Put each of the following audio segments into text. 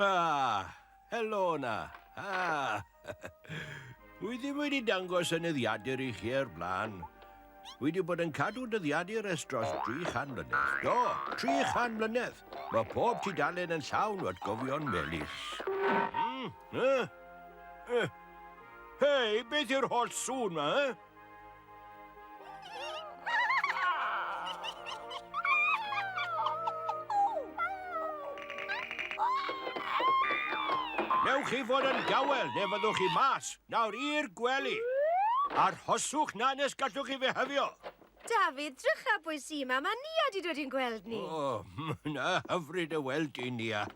Ah, helo na. Ah. Wy ddim wedi dangos enyddiadur i chi ar blaen. Wy wedi bod yn cadw dyddiadur ers dros 300 mlynedd. Do, 300 mlynedd. Mae pob ti dalen yn llawn o atgofion melus. Mm, eh, eh. Hei, beth yw'r holl sŵn ma, eh? Newch chi fod yn dawel neu fyddwch chi mas. Nawr i'r gwely. Arhoswch na nes gallwch chi fe hyfio. David, drycha pwy sy'n ma. Mae Nia di dod i'n gweld ni. O, oh, na hyfryd y weld i, Nia.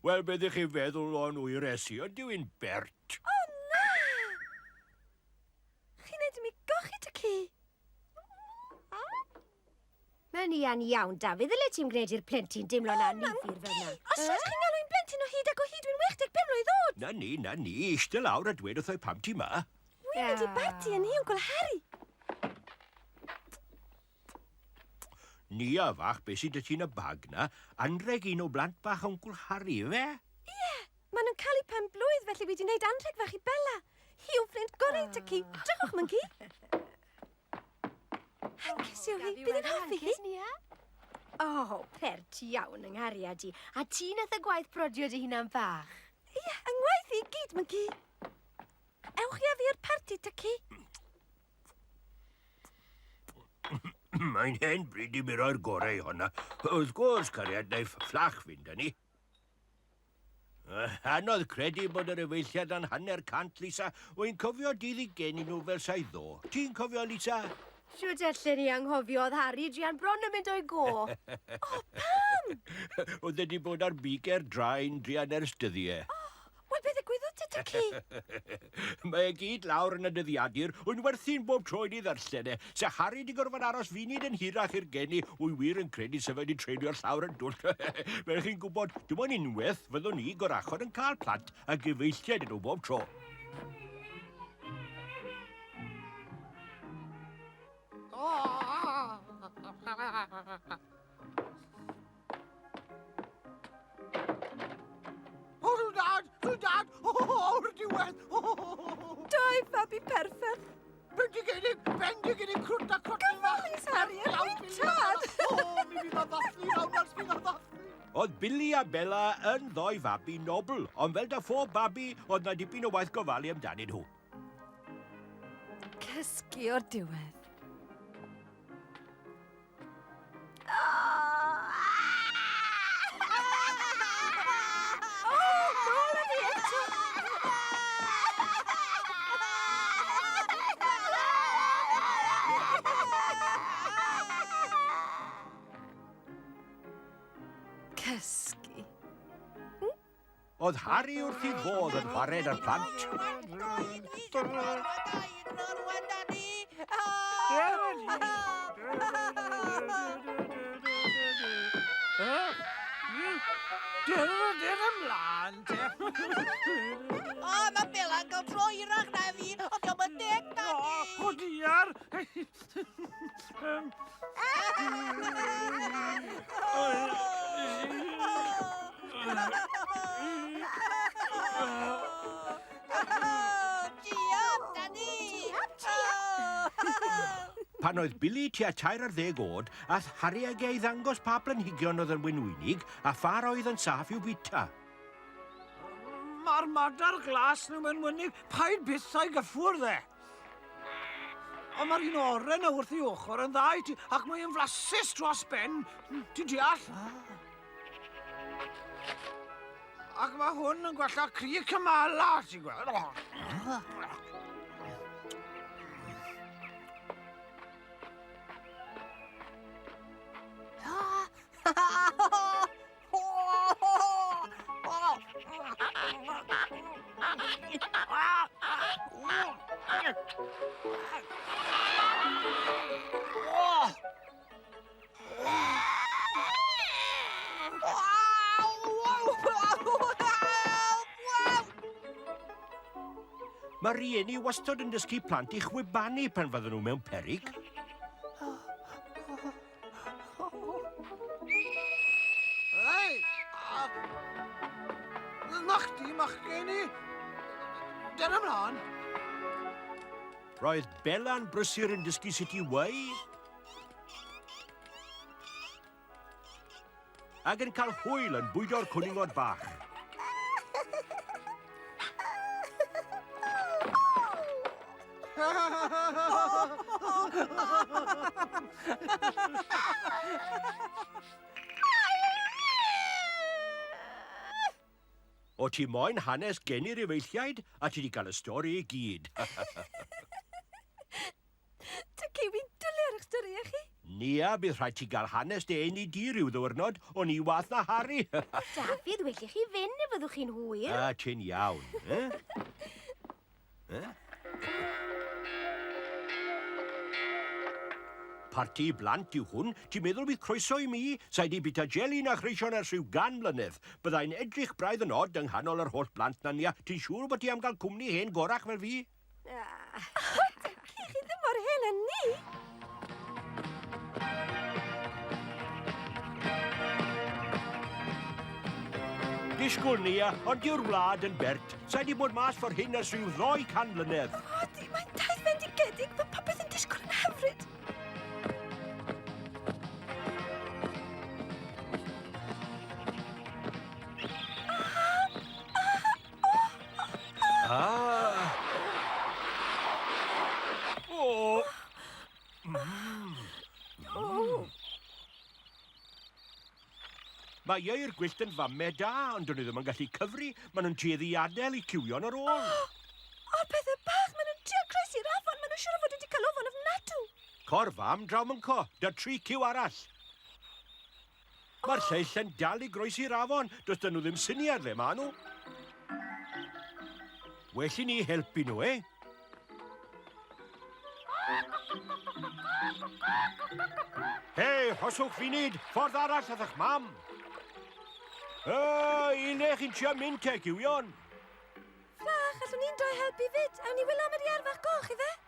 Wel, beth ych chi'n feddwl o'n wy resi? Ydyw i'n bert? O, na! Chi'n neud i mi gochi ty ci. Mae'n ian iawn, Dafydd, ddyle ti'n gwneud i'r plentyn deimlo'n annifyr fel yna. Os oes chi'n galw i'n blentyn o hyd ac o hyd dwi'n 85 mlwydd oed! Na ni, na ni, eistedd lawr a dweud wrtho i pam ti ma. Wi'n mynd i barti yn i Wncwl Harri. Nia fach, beth sydd 'da ti yn y bag 'na? Anrheg un o blant bach Wncwl Harri, ife? Ie, maen nhw'n cael eu pen-blwydd felly wi 'di wneud anrheg fach i Bella. Hi yw ffrind gorau Tyci. Drychwch, Mwnci! Hapus yw hi, bydd yn hoffi hi. O, oh, pert iawn yng nghariad i. A ti nath y gwaith prodio dy hunan bach. Ie, yeah, yng ngwaith i gyd, Mygi. Ewch i addi i'r parti, Tyci. Mae'n hen bryd i mi roi'r gorau i honna. Wrth gwrs, cariad, naiff fflach fynd â ni. Anodd credu bod yr efeilliad yn hanner cant, Lisa. Wy'n cofio dy ddigenni nhw fel sa'i ddo. Ti'n cofio, Lisa? Shwt allen i anghofio oedd Harri druan bron yn mynd o'i go. O, pam? Oedd e di bod ar big air draen druan ers dyddie. O, Wel, be ddigwyddodd ti, Dici? Mae e gyd lawr yn y dyddiadur, wy'n werthu'n bob tro i ni ddarllen e. Se Harry di gorfod aros funud yn hirach i'r geni, wy wir yn credu se fe di treulio'r llawr yn dwll. Fel chi'n gwybod, dim ond unwaith fyddwn ni gorachod yn cael plant a gyfeilliaid ydw bob tro. Billy a Bella yn ddoi fabi nobl, ond fel da phob babi, oedd na dipyn o waith gofalu amdanyn nhw. Cysgu o'r diwedd. Cysgu. Oedd Harri wrth i fodd yn wared ar plant. Dyrwyr ymlaen te! O, mae Bela'n cael tro hirach na fi, ond diolch yn deg, Daddy! O, diar! Pan oedd Billy tua tair ar ddeg oed, ath Harry ag ei ddangos pa blanhigion oedd yn wynwynig a pha'r oedd yn saff i'w bita. Mae'r madar glas nhw'n mynwynig, paid bythau gyffwrdd e. Ond mae'r un oren na wrth ei ochr yn dda i ti, ac mae'n flasus dros ben. Ti'n deall? Ac mae hwn yn gwella cri cymala, ti'n gweld? Mae rhieni wastod yn dysgu plant i chwibanu pan fydden nhw mewn perig. Hei! Na chdi, machgen i! Dyna mlaen! Roedd Bella'n brysur yn dysgu sut i weu. Ac yn cael hwyl yn bwydo'r cwningod bach. O ti moyn hanes gen i'r efeilliaid a ti wedi cael y stori i gyd. Dw kiwi dwli ar eich stori e chi. Nia, bydd rhaid ti gael hanes dy eni di rhyw ddiwrnod, o'n i wath na Harry. Dafydd, well i chi fynd neu fyddwch chi'n hwyr. A, ti'n iawn, e? e? Parti i blant yw hwn, ti'n meddwl bydd croeso i mi? Sa'i di bita jeli na chreision ers rhyw gan mlynedd. Byddai'n edrych braidd yn od yng nghanol yr holl blant na, Nia. Ti'n siŵr bod ti am gael cwmni hen gorach fel fi? Chi chi ddim mor hen â ni! Disgwyl ni, a, ond yw'r wlad yn bert. Sa'i di bod mas ffordd hyn ers rhyw ddoi can mlynedd. O, di, mae'n taith fendigedig, mae popeth yn disgwyl yn hyfryd. Ah! Oh! Mm. Oh! Mae i'r gwyllt yn famme da, ond dyn nhw ddim yn gallu cyfri. Maen nhw'n tueddu i adael i ciwio'n yr ôl. Oh, oh pethau bach, maen nhw'n trio croes i'r afon. Maen nhw'n siŵr o fod wedi cael ofon ofnadw. Cor fam draw mynco, da tri ciw arall. Mae'r lleill yn dal i groesi'r afon, does dyn nhw ddim syniad le maen nhw. Well i ni helpu nhw, eh? Hei, hoswch funud, ffordd arall ydych mam. O, un eich chi'n trio mynd te, gywion. Ffach, allwn ni'n doi helpu fyd. Awn ni wylo am yr iarfach goch, ife?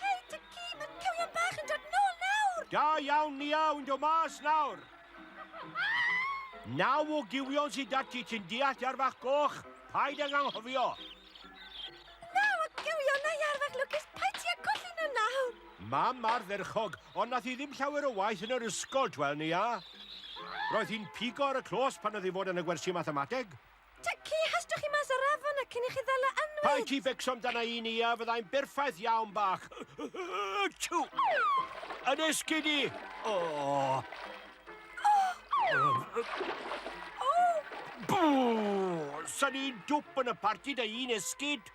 Hei, Dici, mae'r cywion bach yn dod nôl nawr! Da iawn, Nia, wy'n dod mas nawr. Naw o gywion sydd dati ti'n deall ar fach goch, paid ag anghofio. Naw o gywion na iar fach lwcus, paid ti a colli nhw nawr. Mam ar dderchog, ond nath i ddim llawer o waith yn yr ysgol, twel, Nia. Roedd hi'n pigo ar y clos pan oedd i fod yn y gwersi mathemateg. Ta ci hastwch chi mas ar afon a cyn i chi ddal o anwyd! Paid ti becso amdana i ni a fyddai'n berffaith iawn bach. Tw! Yn esgyd i! O! Bw! Sa'n i'n dwp yn y parti dy un esgyd?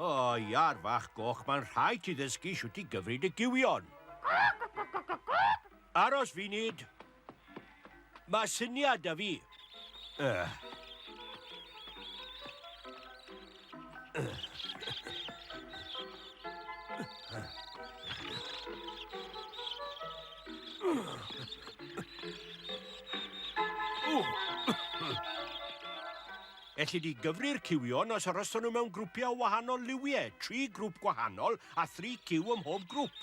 O, iar fach goch, mae'n rhaid ti ddysgu siwt i gyfryd y giwion. Aros funud. Mae syniad da fi. Uh. Elli di gyfri'r cywion os aroston nhw mewn grwpiau o wahanol liwiau, tri grwp gwahanol a thri cyw ym mhob grwp.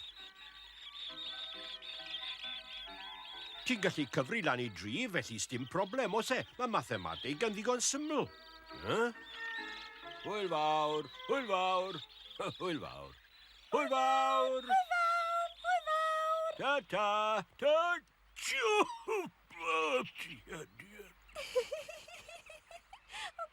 Ti'n gallu cyfri lan i dri, felly sdim problem, os e, mae mathemateg yn ddigon syml. Huh? Hwyl fawr, hwyl fawr, hwyl fawr. Hwyl fawr! Hwyl fawr, hwyl fawr! Ta-ta, ta-ta! O,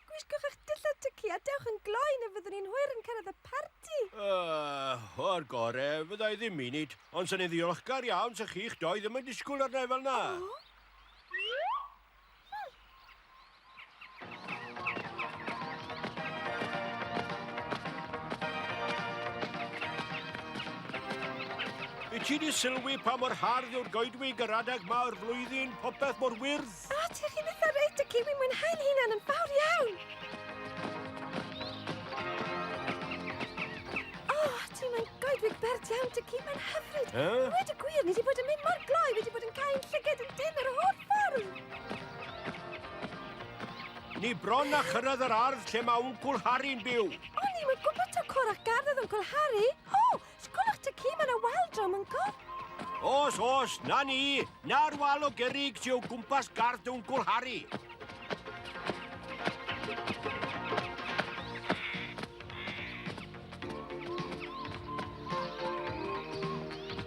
gwisgwch eich dillad tyci a dewch yn gloi neu fyddwn ni'n hwyr yn cyrraedd y parti. Uh, o'r gore, fydda i ddim munud, ond sy'n ei ddiolchgar iawn sy'ch chi'ch doi ddim yn disgwyl arna i fel na. O? Wyt ti wedi sylwi pa mor hardd yw'r goedwig yr adeg ma o'r flwyddyn, popeth mor wyrdd? O, ti chi'n eitha reit, y ciwi mwynhau'n hunan yn fawr iawn. O, ti mae'n goedwig bert iawn, dy ci, mae'n hyfryd. Huh? Wedi gwir, ni wedi bod yn mynd mor gloi, wedi bod yn cael llyged yn dyn yr holl ffordd. Ni bron a chyrraedd yr ardd lle mae Wncwl Harry'n byw. O, ni mae'n gwybod ta cwr ac gardd oedd Wncwl Harry. O, sgwlwch ta ci mae yna wal drom yn gof. Os, os, na ni. Na'r wal o gerig ti o gwmpas gardd dy Wncwl Harry.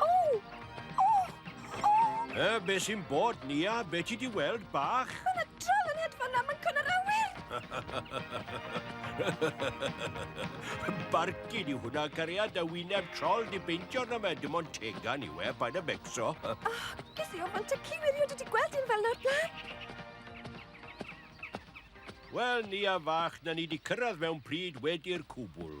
O! O! O! E, be sy'n bod, Nia? Be ti di weld, bach? Mae yna drol yn hedfan na, mae'n cwn yr awyr! Barcud yw hwnna, cariad, a wyneb trol di beintio na fe, dim ond tegan yw e, pa'n y becso. O, oh, ges i ofant y ci wirio, dwi di gweld un fel nawr blaen. Wel, ni a fach, na ni di cyrraedd mewn pryd wedi'r cwbl.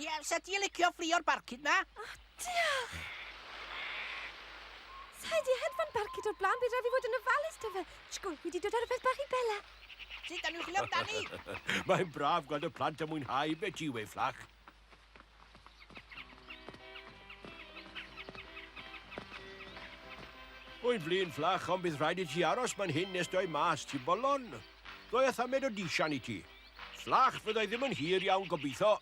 Ie, sa ti'n licio fflio'r barcud na? O, oh, diolch! Sa di hedfan barcud o'r blaen, bydd rhaid fi fod yn ofalus da fe. Tchgwn, fi di dod ar y peth bach i Bella. Sut dan nhw'n chwilio amdani? Mae'n braf gweld y plant yn mwynhau fe ti wei fflach. Wy'n flin fflach, ond bydd rhaid i ti aros ma'n hyn nes doi mas, ti bolon. Doi a thamed o disian i ti. Llach fyddai ddim yn hir iawn gobeitho.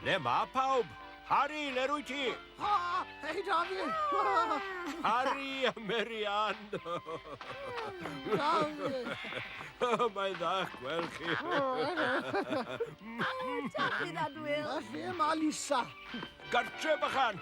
Le ma pawb? Harry, le rwy ti? Ha! Hei, Dafi! Harry a Mary Ann! Dafi! Mae'n dda gweld chi. Helo, Dafi, Dadwyl! A lle mae Lisa? Gartre, bychan!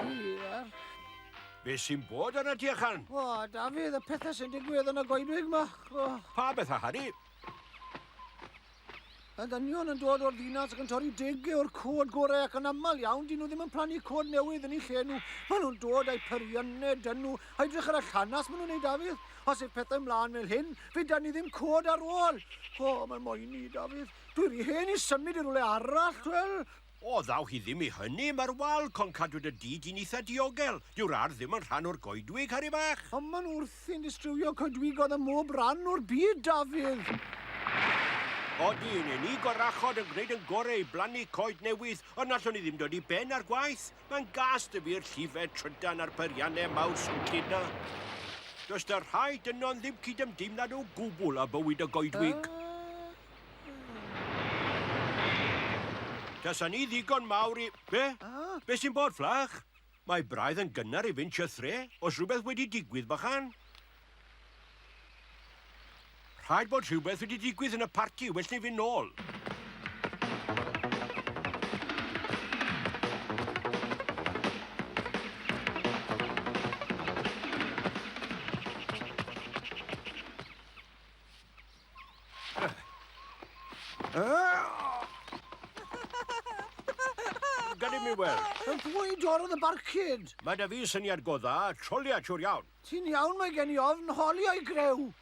Diolch. Be sy'n bod ar y tu allan? O, Dafydd, y pethau sy'n digwydd yn y goedwig ma. O. Pa bethau, Harry? Y dynion yn dod o'r ddinas ac yn torri deg o'r cod gorau ac yn aml iawn, dyn nhw ddim yn plannu cod newydd yn ei lle nhw. Maen nhw'n dod â'i periannau dyn nhw, a edrych ar y llanas maen nhw'n ei Dafydd. Os yw pethau mlaen fel hyn, fe dan ni ddim cod ar ôl. O, mae'n moyn i, Dafydd. Dwi'n rhy hen i symud i rhywle arall, wel, O, ddaw hi ddim i hynny, mae'r wal con cadwyd y du di'n eitha diogel. Dyw'r ardd ddim yn rhan o'r goedwig, Harri fach! Ond mae'n wrthi'n distrywio coedwigoedd ym mhob rhan o'r byd, Dafydd! Odi, yn eni gorachod yn gwneud yn gorau i blannu coed newydd, ond nallwn i ddim dod i ben â'r gwaith. Mae'n gas dy fi'r llifed trydan a'r peiriannau mawr swnllyd na. Does dy rhaid yno'n ddim cydymdeimlad o gwbl â bywyd y goedwig. Tasa ni ddigon mawr i... Be? Ah. Be sy'n bod, fflach? Mae braidd yn gynnar i fynd chythre, os rhywbeth wedi digwydd, bychan. Rhaid bod rhywbeth wedi digwydd yn y parti, well ni fynd nôl. Gad i mi weld. Yn fwy dorf y barcud. Mae da fi syniad go dda, trolia siwr iawn. Ti'n iawn, mae gen i ofn holi o'i greu.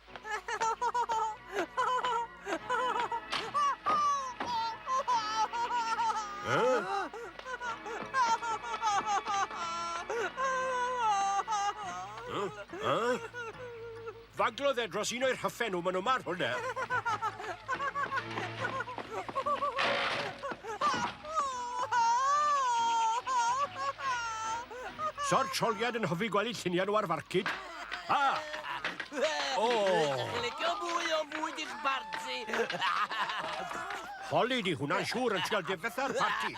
Huh? Huh? Huh? Faglodd e dros un o'i rhyffe nhw, maen nhw mar hwnna. Sor troliad yn hyfryd gweld lluniau nhw ar farcud. A! O! Licio mwy o fwyd i'ch barti. Holi di hwnna'n siŵr yn trial difetha'r parti.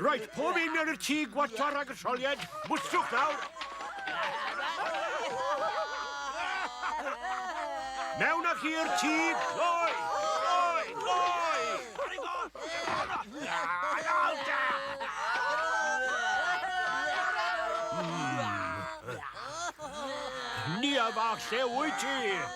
Roedd pob un yn y tŷ gwaetha rhag y solied. Mwswch nawr. Mewn â chi i'r tŷ. Gloi! Gloi! Gloi! Ni a fach lle wyt ti?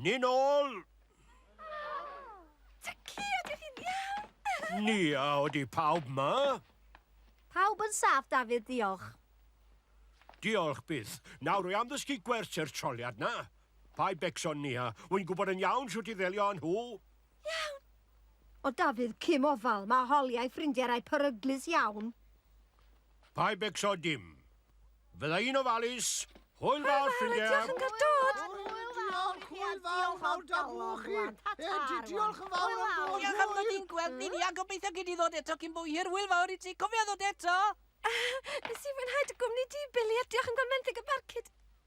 Ni nôl! Dyci, ydych chi'n iawn? Ni, a oeddi pawb ma? Pawb yn saff, Dafydd, diolch. Diolch byth. Nawr, rwy am ddysgu gwers i'r troliad na. Paid becso, Nia. Wy'n gwybod yn iawn shwt i ddelio â nhw. Iawn! O Dafydd, cym ofal, mae Holly a'i ffrindiau rai peryglus iawn. Paid becso dim. Fydda i'n ofalus. Hwyl fawr, ffrindiau! Hwyl fawr, diolch yn cael dod! Hwyl fawr, hwyl fawr, mawr da bw chi! Diolch yn fawr am bod! Diolch am ddod i'n gweld ni, ni, a gobeithio gei di ddod eto cyn bo hir, hwyl fawr i ti, cofia ddod eto! Nes i fwynhau dy gwmni di, Billy, a diolch am gael menthyg y barcud.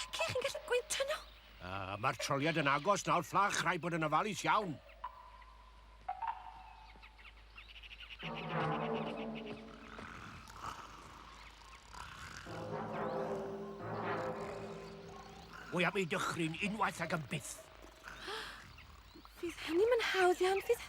Diciach chi'n gallu gwyntyn nhw? Uh, Mae'r troliad yn agos nawr, fflach, rhaid bod yn ofalus iawn. Mwy am ei dychryn unwaith ag yn byth. Fydd hynny'n mynd hawdd iawn, fydd...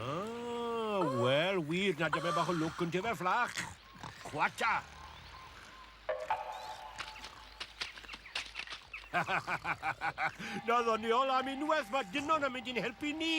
Ah, wel, wir, na dyma bach o lwc yn dyfer fflach. Chwata! Na ddoniol am unwaith, mae dynon yn mynd i'n helpu ni.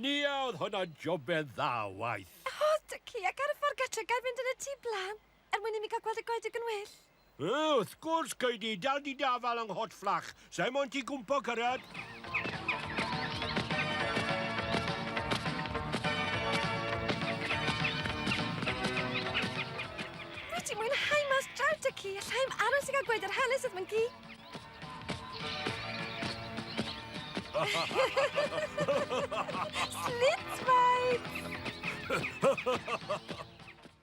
Niaodd hwnna'n jobedd dda waith. O, dy ci ac ar y ffordd gatre gael mynd yn y tŷ blan. Er mwyn i mi gael gweld y goedwig yn well! Yy, wrth gwrs, gei di dal dy da fal yng nghot fflach. Sa'i moyn ti gwmpo cyrraedd. Dwi di mwynhau mas draw da ci, alla i'm aros i gael gweud yr hanes wrth fy gi. Slit, mae!